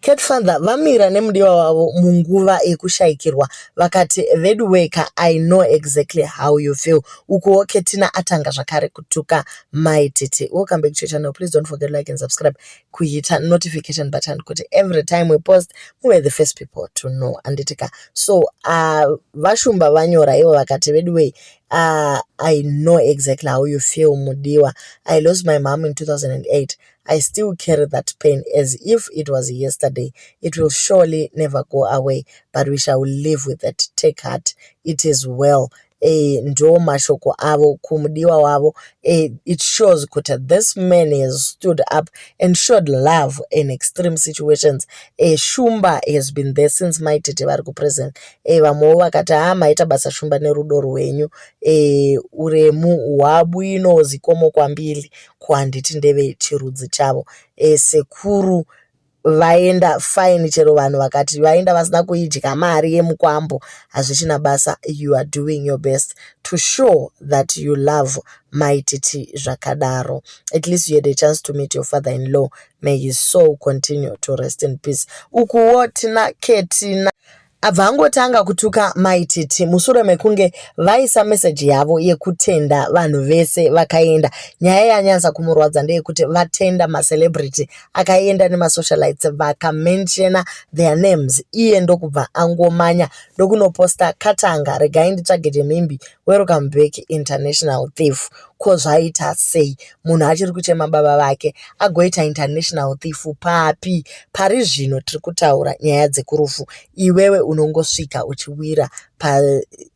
Cat father vamira nemudiwa wavo munguva yekushaikirwa vakati veduweka I know exactly how you feel. Ukuwo Ketina atanga zvakare kutuka Mai Titi. Welcome back to your channel. Please don't forget like and subscribe. Kuita notification button kuti every time we post muve the first people to know. Anditika. So uh, vashumba vanyora ivo vakati veduwei uh, I know exactly how you feel mudiwa. I lost my mom in 2008. I still carry that pain as if it was yesterday. It will surely never go away, but we shall live with it. Take heart. It is well. Eh, ndo mashoko avo kumudiwa wavo eh, it shows kuti this man has stood up and showed love in extreme situations eh, shumba has been there since mai tete vari kupresent eh, vamwewo vakati ha ah, maita basa shumba nerudo rwenyu eh, uremu hwabwino zikomo kwambili ko handiti ndeve chirudzi chavo e, sekuru vaenda fine chero vanhu vakati vaenda vasina kuidya mari yemukwambo hazvichina basa you are doing your best to show that you love maititi zvakadaro at least you had a chance to meet your father in law may his soul continue to rest in peace ukuwo tina ketina Abva angotanga kutuka mai Titi mushure mekunge vaisa meseji yavo yekutenda vanhu vese vakaenda. Nyaya yanyanza kumurwadza ndeyekuti vatenda macelebrity akaenda nemasocialites vakamenshena their names iye ndokubva angomanya ndokunoposta katanga regai nditsvage chemhimbi Welcome back international thief. Ko zvaita sei munhu achiri kuchema baba vake agoita international thief papi? Pari zvino tiri kutaura nyaya dzekurufu, iwewe unongosvika uchiwira pa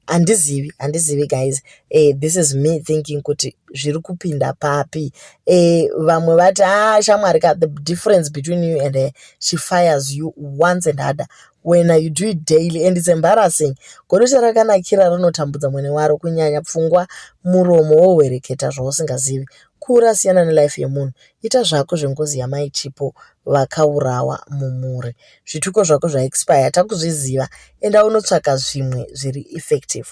handizivi handizivi guys eh, this is me thinking kuti zviri kupinda papi eh, vamwe vati ah shamwari ka the difference between you and her she fires you once and other when you do it daily and it's embarrassing godocha rakanakira rinotambudza mwene waro kunyanya pfungwa muromo wohwereketa zvausingazivi kura siyana nelife yemunhu ita zvako zvengozi yamai chipo vakaurawa mumhuri zvituko zvako zvaexpire takuzviziva enda unotsvaka zvimwe zviri effective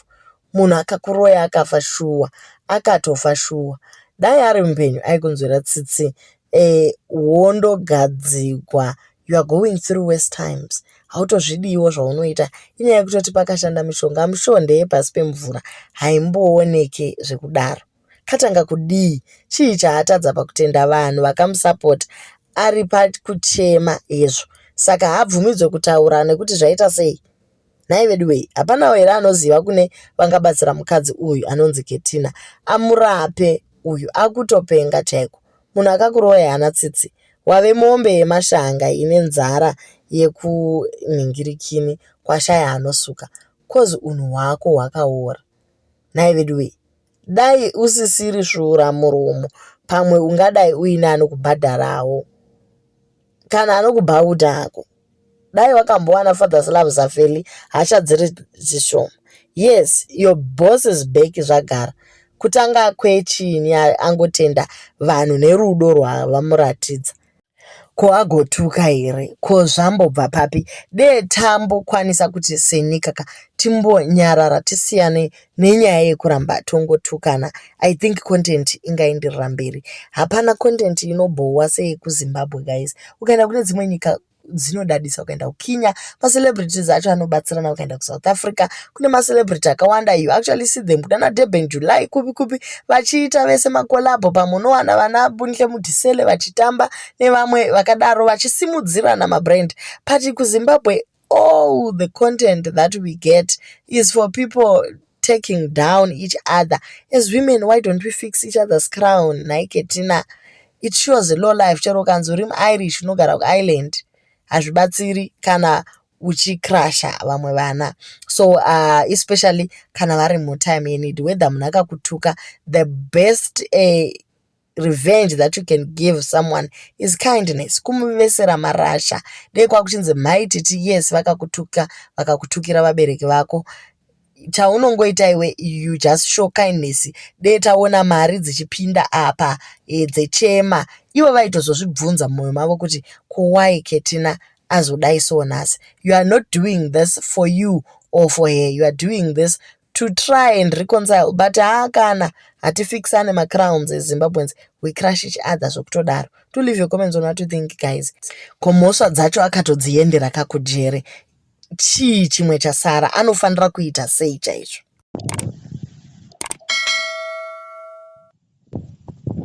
munhu akakuroya akafa shuwa akatofa shuwa dai ari mupenyu aikunzwira tsitsi eh, wondogadzigwa eh, you are going through worse times hautozvidiiwo zvaunoita inyaya yekutoti pakashanda mishonga mishonga ndeyepasi pemvura haimbooneke zvekudaro katanga kudii chii chaatadza pakutenda vanhu vakamusapota ari pakuchema hezvo saka haabvumidzwe kutaura nekuti zvaita sei nhai veduwei hapanawo here anoziva kune vangabatsira mukadzi uyu anonzi ketina amurape uyu akutopenga chaiko munhu akakuroya hana tsitsi wave mombe yemashanga ine nzara yekunhingirikini kwashaya anosuka kozi unhu hwako hwakaora nhai veduwei Dai usisiri svura muromo pamwe ungadai uine anokubhadharawo kana anokubhauta hako dai wakambowana fathers love zafeli hasha dziri dzishoma yes your bosses back zvagara kutanga kwechini angotenda vanhu nerudo rwavamuratidza ko agotuka here ko zvambobva papi dee tambokwanisa kuti senyika ka timbonyarara tisiyane nenyaya yekuramba tongotukana i think content ingaenderera mberi hapana content inobhowa seyekuzimbabwe guys ukaenda kune dzimwe nyika dzinodadisa ukaenda kukenya macelebrities acho anobatsirana ukaenda kusouth africa kune macelebrity akawanda you actually see them kunana durban july kupi kupi vachiita vese makolabho pamwe unowana vana bunhle mudhisele vachitamba nevamwe vakadaro vachisimudzirana mabrand but kuzimbabwe all the content that we get is for people taking down each other as women why don't we fix each other's crown nhai ketina it shows low life chero ukanzi uri muirish unogara kuireland hazvibatsiri kana uchicrusha vamwe vana so uh, especially kana vari mutime yenid whether munhu akakutuka the best uh, revenge that you can give someone is kindness kumuvesera marasha dei kwakuchinzi mhai titi yes vakakutuka vakakutukira vabereki vako chaunongoita iwe you just show kindness dee taona mari dzichipinda apa e, dzechema ivo vaitozozvibvunza mumwoyo mavo kuti kowai ketina azodai so nhasi you are not doing this for you or for her you are doing this to try and reconcile but haa kana hatifixane macrowns ezimbabweans we crush each other zvokutodaro to leave your comments on what you think guys komhosva dzacho akatodziendera kakujere chii chimwe chasara anofanira kuita sei chaizvo